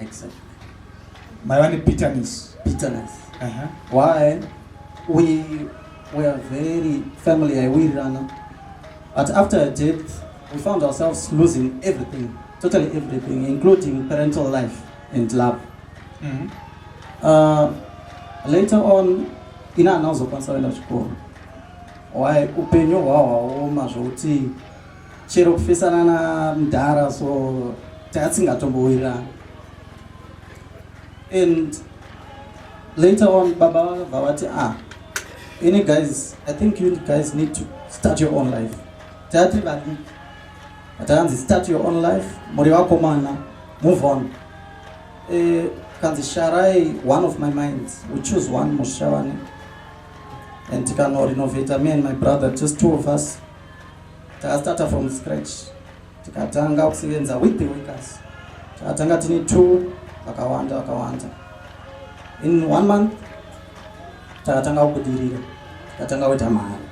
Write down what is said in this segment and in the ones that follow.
Exactly. Maiva nebitterness. Bitterness. Uh -huh. Why? We were very family yaiwirirana. But after her death, we found ourselves losing everything, totally everything, including parental life and love. Mm -hmm. uh, later on, ina anazokwanisa kuenda chikoro. Why upenyu hwahwaoma zvokuti chero kufesana na mdhara so taatsingatombowirirana and later on baba vakabva vati ah any guys i think you guys need to start your own life tati vadiki atakanzi start your own life muri vakomana move on eh, kanzi sharai one of my minds we choose one musha wane and tikanorenovata me and my brother just two of us Takastarta from scratch tikatanga kusevenza with the workers takatanga tine two vakawanda vakawanda in one month takatanga kubudirira takatanga kuita mari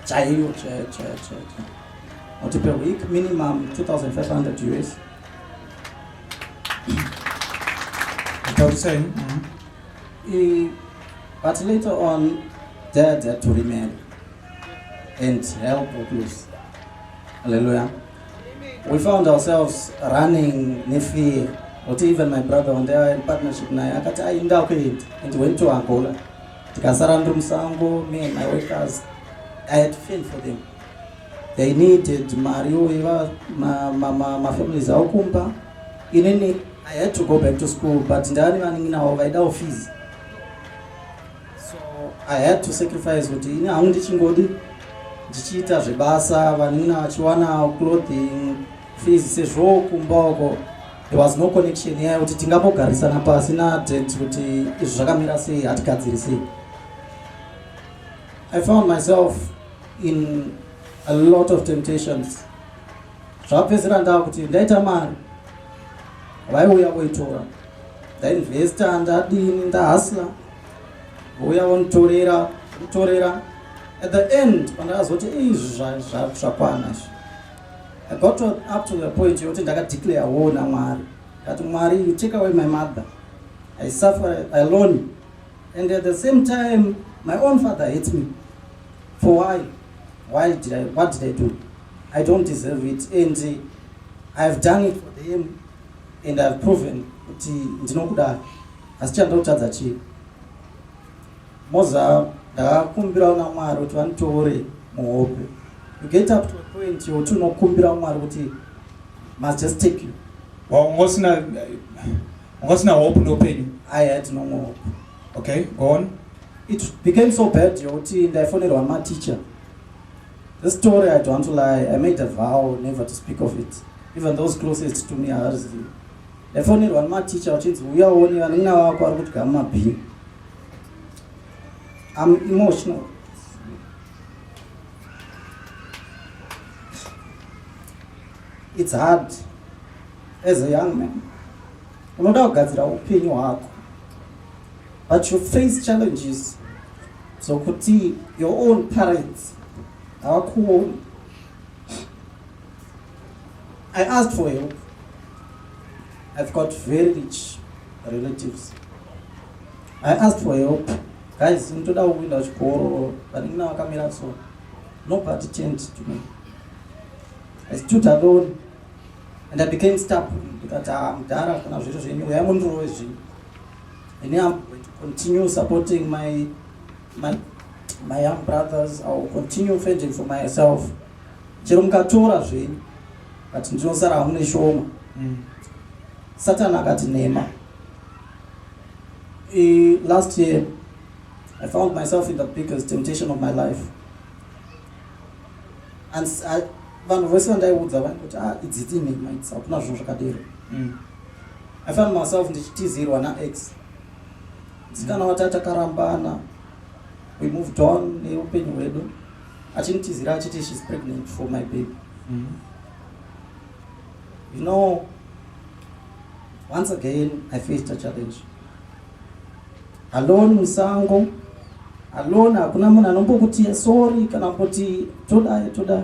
chaiyo chaiyo chaiyo chaiyo kuti per week minimum 2500 us taurisei but later on dad had to remarry and help or please. Hallelujah. We found ourselves running nefear. But even my brother one day in partnership naye akati ainda kuenda and went to Angola. Tikasara ndiri musango me and my workers. I had feel for them. They needed mari uiva mafamilies ma, ma, ma avo kumba. Inini I had to go back to school but ndani vaningi navo vaida office. so i had to sacrifice kuti ini hangu ndichingodi ndichiita zvebasa vanin'ina vachiwana clothing fees sezvo kumba uko there was no connection yaya kuti tingambogarisana pasi nadad kuti izvi zvakamira sei hatigadzirisei i found myself in a lot of temptations zvapedzera ndava kuti ndaita mari vaiuya voitora ndainvesta ndadini ndahasla vouya vonitorera kutorera at the end pandakazoti izvi zvakwana izvi i got up to the point yokuti ndakadeclare wo namwari kati mwari you take away my mother i suffer alone and at the same time my own father hates me for why why did i what did i do i don't deserve it and i have done it for them and I've proven kuti ndinokuda asi chandotadza chii moza ndakakumbirawo namwari kuti vanditovore muhope you get up to a point yokuti unokumbirawo mwari kuti must just take you waungosina ungosina hope ndoupenyu i had no more hope okay go on it became so bad yokuti ndaifonerwa mateacher The story I don't lie, I made a vow never to speak of it. Even those closest to me havazivi. Ndafonerwa nematicha vachinzi uya uone vanina vako vari kudya mumabhini. I'm emotional. It's hard as a young man. Unoda kugadzira upenyu hwako. But you face challenges dzokuti your own parents havakuoni. I asked for help. I've got very rich relatives. I asked for help. Guys, ndoda kuenda chikoro, vanenge navakamira so. Nobody turned to me. I stood alone and I became stubborn. Ndikati, ah, mudhara kana zviro zvenyu, uyai mundirove zvinhu. And I'm going to continue supporting my, my, my young brothers. I will continue fending for myself. Chero mukatora zvenyu, but ndinosara hamuna shoma. Mm. Satan akati nema. E, last year, I found myself in the biggest temptation of my life. And I, vanhu vese vandaiudza vaikuti ah, idziti nema, hakuna zvinhu zvakadero. Mm. I found myself ndichitizirwa naex msikana wati atakarambana we moved on neupenyu hwedu achinitizira achiti she's pregnant for my baby mm -hmm. you know once again i faced a challenge alone musango alone hakuna munhu anombokuti sorry kana kuti toda toda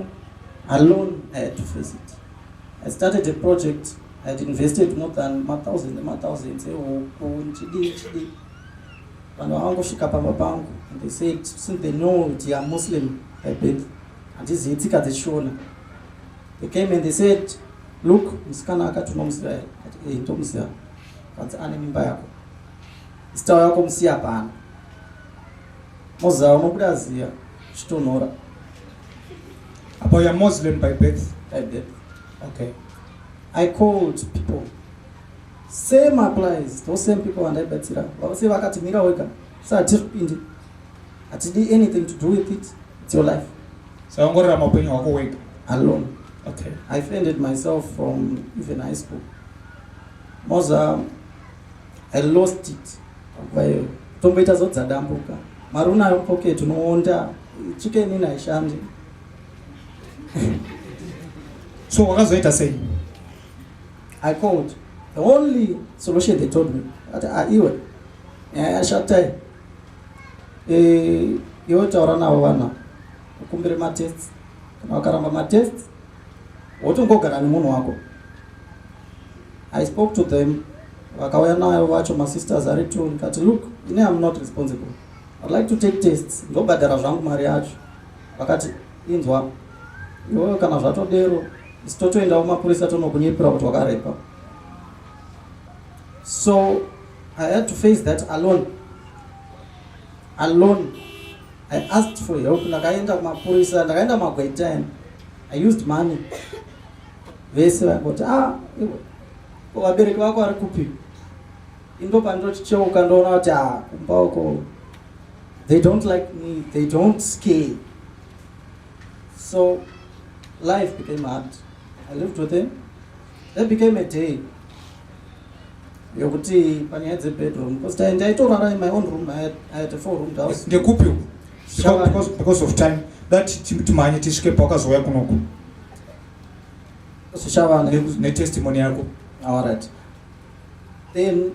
alone i had to face it i started a project I had invested more than mathousand nemathousands ehuku ndichidii ndichidii vanhu vavangosvika pamba pangu and they said since they know kuti iam muslim by birth handizivi tsika dzechishona they came and they said look musikana akati unomuziva here ati e ndomuziva kanzi ane mimba yako zitawo yako musiya pano moziva unobuda ziya chitonhora apo yamuslim by birth by birth Okay. I called people. Same applies. Those same people vandaibatsira. Vavose vakati mira wega. Sa hatiri kupindi. Hatidi anything to do with it. It's your life. Sa ongorera mapenyu wako wega. Alone. Okay. I fended myself from even high school. Moza I lost it. Kwayo. Tomboita zodza dambuka. Maruna yopoke tunoonda. Chicken ina ishandi. so wakazoita sei i called the only solution they told me ati ah, iwe nyaya yashatai eh, iwe taura navo vana ukumbire matests kana wakaramba matests wotongogara nemunhu wako i spoke to them vakauya nayo vacho masisters ari two ndikati look ine am not responsible i'd like to take tests ndobhadhara zvangu mari yacho vakati inzwa iwewe kana zvatodero isi totoenda kumapurisa tonokunyepera kuti wakarepa so i had to face that alone alone i asked for help ndakaenda kumapurisa ndakaenda magwaitan i used money vese vangoti ah vabereki vako vari kupi indo pandinoticheuka ndoona kuti ah kumba uko They don't like me, they don't care. So life became hard. I lived with him. There became a day yokuti panyaya dzebedroom because ndaitorara in my own room I had, I had a four room house ndekupi because, because of time that timhanye tisvike pawakazouya kunoku zvichavana netestimony yako all right then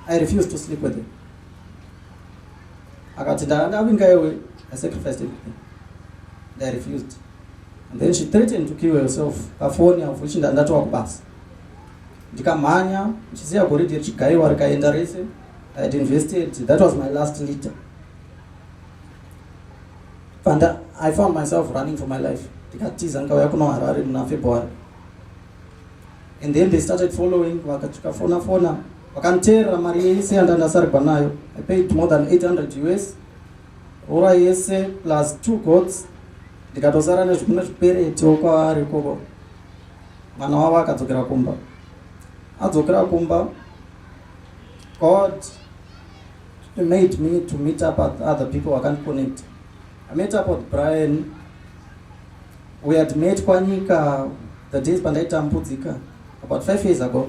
i refused to sleep with him akati ndakangavhinga iwe i sacrificed everything they refused and then she threatened to kill herself pafoni of which ndatova kubasa ndikamhanya ndichisiya goridhe richigaiwa rikaenda rese i had invested that was my last leader and i found myself running for my life ndikatiza ndikauya kuno harare muna february and then they started following vakachikafona fona, fona. vakandichera mari yese yandandasarigwa nayo i paid more than 800 us rora yese plus two gods ndikatosara nezvimwe zvipereto kwaari ikoko mwana wavo akadzokera kumba adzokera kumba god made me to meet up with other people vakandiconect i met up with brian we had met kwanyika the days pandaitambudzika about five years ago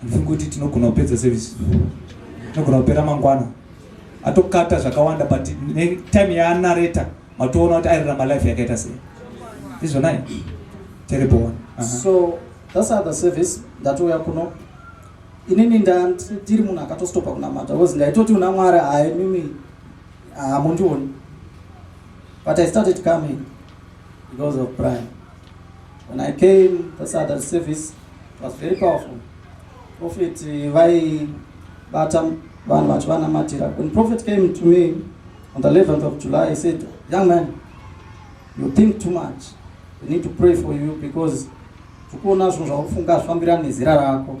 Handifungi kuti tinogona kupedza service. Tinogona kupera mangwana. Atokata zvakawanda but time yaanareta matoona kuti airarama life yakaita sei. Izvonai. Terrible one. Uh -huh. So that's other service ndatouya kuno inini ndiri munhu akatostopa kunamata because ndaitoti una mwari hayi mimi hamundioni but i started coming Because of prime. When I came to Saturday service, it was very powerful. Prophet Vai Batam Van Vachwana Matira. When Prophet came to me on the 11th of July, he said, Young man, you think too much. We need to pray for you because tukuona zvinhu zvakufunga zvifambirana nezera rako.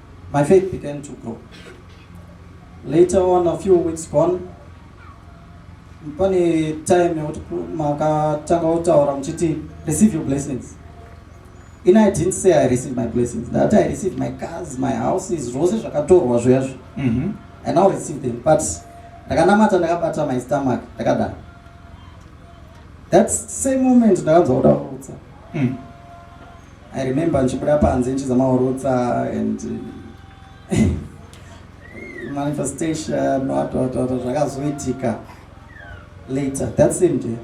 My faith began to grow. Later on, a few weeks gone, pane time yekuti makatanga kutaura muchiti receive your blessings in i didn't say i received my blessings ndati i received my cars my houses zvose zvakatorwa zvoyazvo mhm. i now receive them but ndakanamata ndakabata my stomach ndakadana that same moment ndakanzwa kuda kuutsa mm. I remember ndichibuda panze ndichizama kurutsa and manifestation watwatwata zvakazoitika later that same day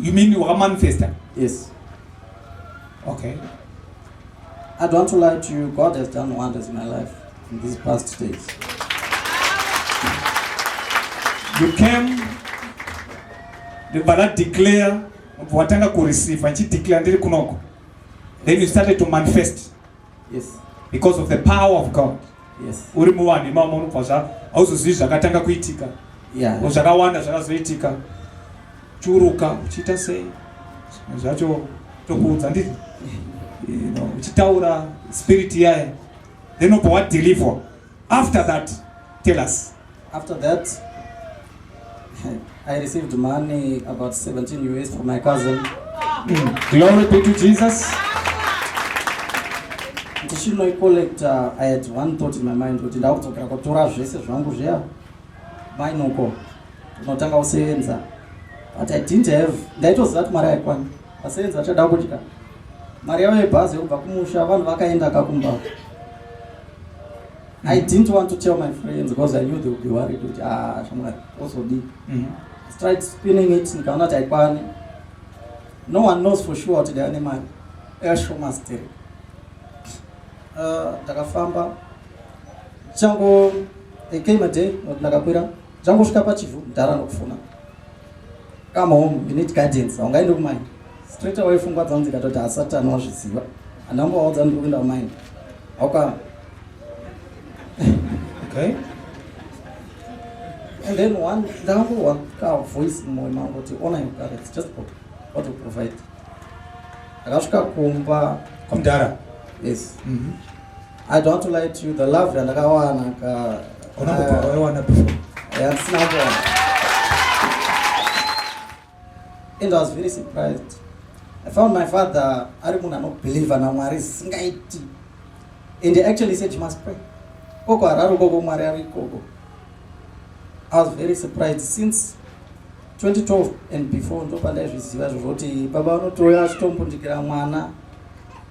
you mean wakamanifesta yes okay i don't want to lie to you god has done wonders in my life in these past days you came ndibva ndadeclare Mubva watanga kureceive ndichideclare ndiri kunoko. Then you started to manifest. Yes. Because of the power of God. Yes. Uri muwani mama unobva zva auzozivi zvakatanga kuitika. Yeah. Zvakawanda zvakazoitika. Churuka uchiita sei? Zvacho tokuudza ndiri. You know, uchitaura spirit yaye. Then ubva wadeliver. After that, tell us. After that, I received money about 17 US from my cousin. Mm. Glory be to Jesus. Ndichino collector, uh, I had one thought in my mind kuti ndakudzokera kutora zvese zvangu zviya mainuko unotanga kusevenza but I didn't have ndaitoziva kuti mari yaikwana vasevenzi vachada kudya mari yavo yebhazi yekubva kumusha vanhu vakaenda kakumba I didn't want to tell my friends because I knew they would be worried kuti ah shamwari also deep. Mm -hmm. I tried spinning it nikaona kuti haikwane. No one knows for sure kuti ndaiva nemari. Esho masteri. Uh, takafamba chango they came a day ndakakwira changosvika pachivhu mdhara nokufona come home you need guidance haungaende kumaini straight away fungwa dzanzi katoti hasati anowazviziva andambovaudza ndiri kuenda kumaini hauka okay and then one ndakambowa ka voice mumoyo mangu kuti ona your parents just go what to provide akasvika kumba kwamdara yes mm -hmm. I don't want to lie to you, the love yandakawana ka Kuna uh, kwa wewe wana before. Yeah, it's not one. And I was very surprised. I found my father ari munhu anobhilivha namwari singaiti and he actually said you must pray koko harari ukoko mwari ari ikoko i was very surprised since 2012 and before ndopandaizviziva zvozvoti baba vanotiuya achitombundikira mwana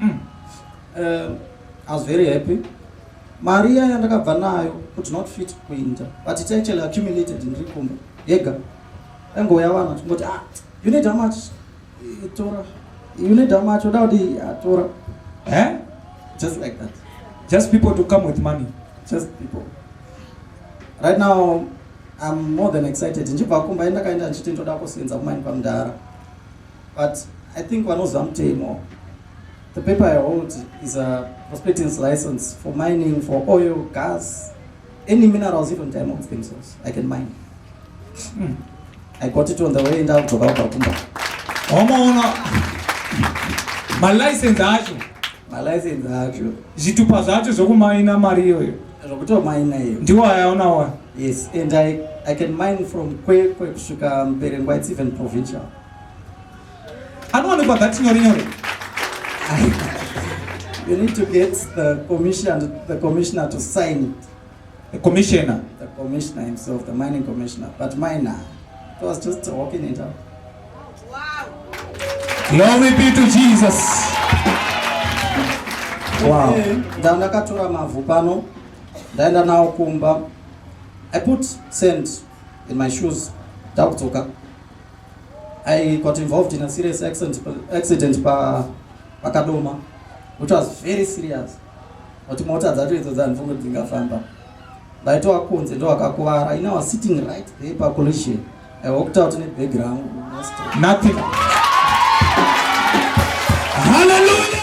Mm. Uh, I was very happy. Mari yaya ndakabva nayo could not fit kuinda but it actually accumulated ndiri kumba yega angoyawana tingoti ah, you need how much itora you need how much oda kuti atora eh? just like that just people to come with money just people right now I'm more than excited. Njipa kumba enda kaenda nchiti ndoda kusenza kumaini pamdara. But I think vanoziva mutemo. The paper I hold is a prospectance license for mining, for oil, gas, any minerals, even diamonds themselves. I can mine. Hmm. I got it on the way down to Babakumba. Omono. My license acho. My license acho. Zvitupa zvacho zvokumaina mari iyoyo. Zvokutomaina iyo. Ndiwo ayaona wa. Yes, and I I can mine from Kwekwe kusvika Mberengwa, it's even provincial. anowanikwa that nyore nyore you need to get the commission the commissioner to sign it the commissioner the commissioner himself the mining commissioner but minor it was just walking it out wow glory be to jesus wow ndandakatora mavhu pano ndaenda nawo kumba i put sand in my shoes ndakudzoka I got involved in a serious accident, accident pa pakadoma which was very serious kuti mota dzacho idzo dzandifunge dzingafamba ndaitova kunze ndowakakuvara ina was sitting right there pa collision i walked out ne bag rangu nothing hallelujah